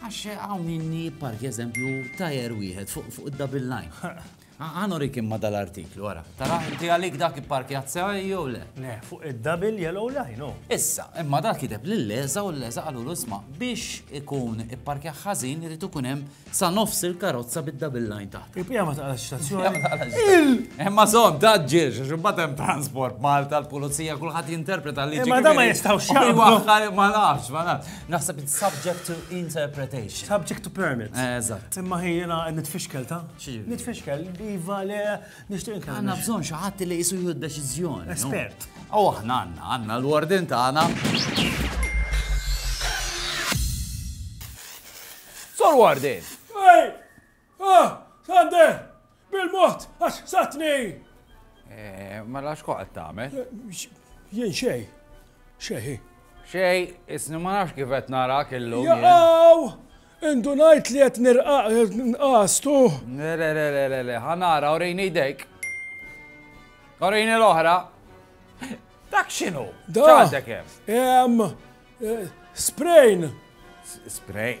Għax hawn inni park eżempju tajer wieħed fuq id-double line. Għan urik imma dal-artiklu, għara. Tara, inti għalik dak ipparkjat sewa jew le? Le, fuq id-double yellow line, no. Issa, imma dak kiteb li l-leża u l-leża għalu l-usma biex ikun ipparkja ħażin irid ikun hemm sa nofs il-karozza bid-double line taħt. Ipja ma taqlax stazzjoni. Imma zon, taġġiex, xubbat hemm transport Malta, l-pulizija, kulħadd jinterpreta li. Imma da ma jistgħux xaħġa. Ma nafx, ma nafx. Naħseb it's subject to interpretation. Subject to permit. Eh, eżatt. Imma ħi jena nitfixkel ta? Nitfixkel, iva le, nishtiq nkellem. Għanna bżon xaħat li jisu jħu d-deċizjoni. Espert. U aħna għanna, għanna l-wardin ta' għana. Sor wardin! Ah! Sander! Bil-mod, għax satni! Eh, mela x'koq qed tagħmel? Eh, jien xej. Xej. Xej, isni ma nafx kif qed narak illum. Jaqaw! Indunajt li qed nirqaq nqastu. Le le le le le le, ħanara urejni jdejk. Urejni l-oħra. Dak x'inhu? Dak hemm. Hemm eh, sprejn. Sprejn.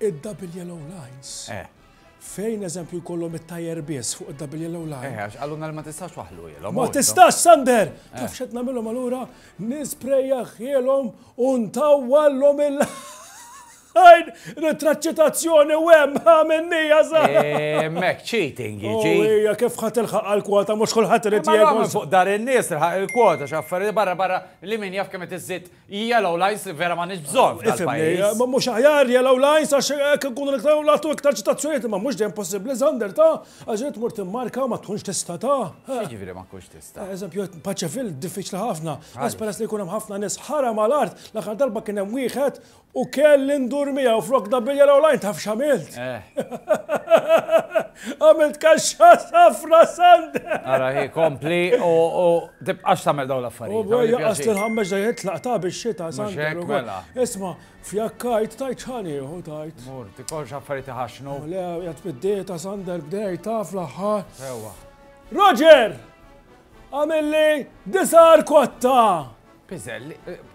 Id-double yellow lines. Eh. Fejn eżempju jkollhom it-tajer biss fuq id-double yellow line. Eh, għax għalluna li ma tistax waħlu jilhom. Ma tistax, Sander! Eh. Taf xed namilhom allura nispreja ħielhom u ntawwallhom il- Għajn, ritraċċitazzjoni u hemm għamennija sa. Eh, mek cheating jiġi. Ija, kif ħat il-ħaq għal-kwota, mux kullħat irid jgħu. Fuq dar in-nies il-ħaq il-kwota, xaffari barra barra li min jaf kemm iżżid Yellow lines li vera m'għandniex bżonn f'dal-pajjiż. Ma mhux aħjar yellow lines għax hekk inkunu iktar u nagħtu iktar ċitazzjonijiet imma mhux dejjem possibbli Xander ta' għax irid tmur timmarka u ma tkunx tista' ta'. X'jiġifieri ma tkunx tista'? Eżempju paċefil diffiċli ħafna għax peress li jkun hemm ħafna nies ħara mal-art l-aħħar darba kien hemm wieħed u kelli ndur miegħu flok da bil-yellow line taf x'għamilt? Għamilt kaxxa safra Xander! Ara hi kompli u Tibqax tagħmel dawn l-affarijiet. Huwa jaqas lil Ħammeġ da jgħid tlaqgħet ta' bix-xita Sander ukoll. Isma', fjakkajt tajt x'ħan ieħu tajt. Mur, tikolx affarijiet iħaxxnu. Le, qed bid-dieta Sander bdej taf l-aħħar. Sewwa. Roger! Għamilli disar kotta! Piżelli,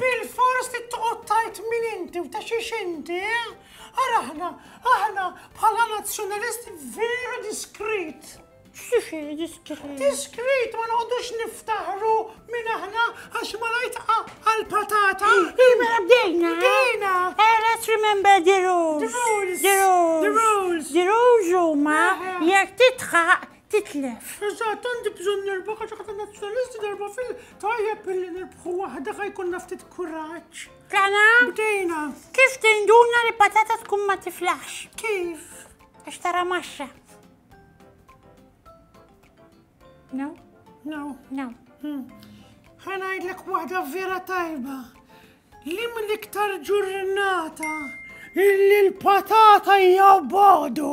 Bil-fors li toqgħod tajt min inti u ta' xiex inti, eh? Ara aħna, aħna bħala nazzjonalisti vera diskrit. Diskrit. Diskrit ma noqgħodux niftaħru minn aħna għax ma lajt għal-patata. Imma bdejna. Bdejna. Eh, let's remember the rules. The rules. The rules. The rules huma jekk titħaq titlef. Eżatt, għandi bżonn nerba' kaċa ta' nazzjonalisti darba fil tajjeb billi nirbħu waħda ħa jkollna ftit kuraġġ. Tana? Bdejna. Kif tinduna li patata tkun ma tiflax? Kif? Għax tara maxxa. No? No. No. Hmm. Ħanajdlek waħda vera tajba. Li mill-iktar ġurnata illi l-patata hija bodu.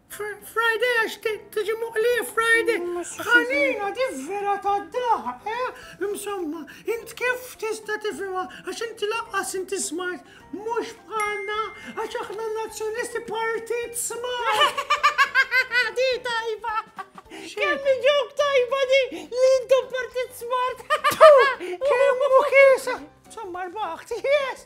Friday għax tiġi muqli Friday. Ħanina di vera ta' daħa, eh? Insomma, int kif tista' tifhimha għax inti laqqas inti smart mhux bħalna għax aħna nazzjonisti partit smart. Di tajba. Kemm ġok tajba di li intom partit smart. Kemm u kiesa. Insomma, rbaħt, yes.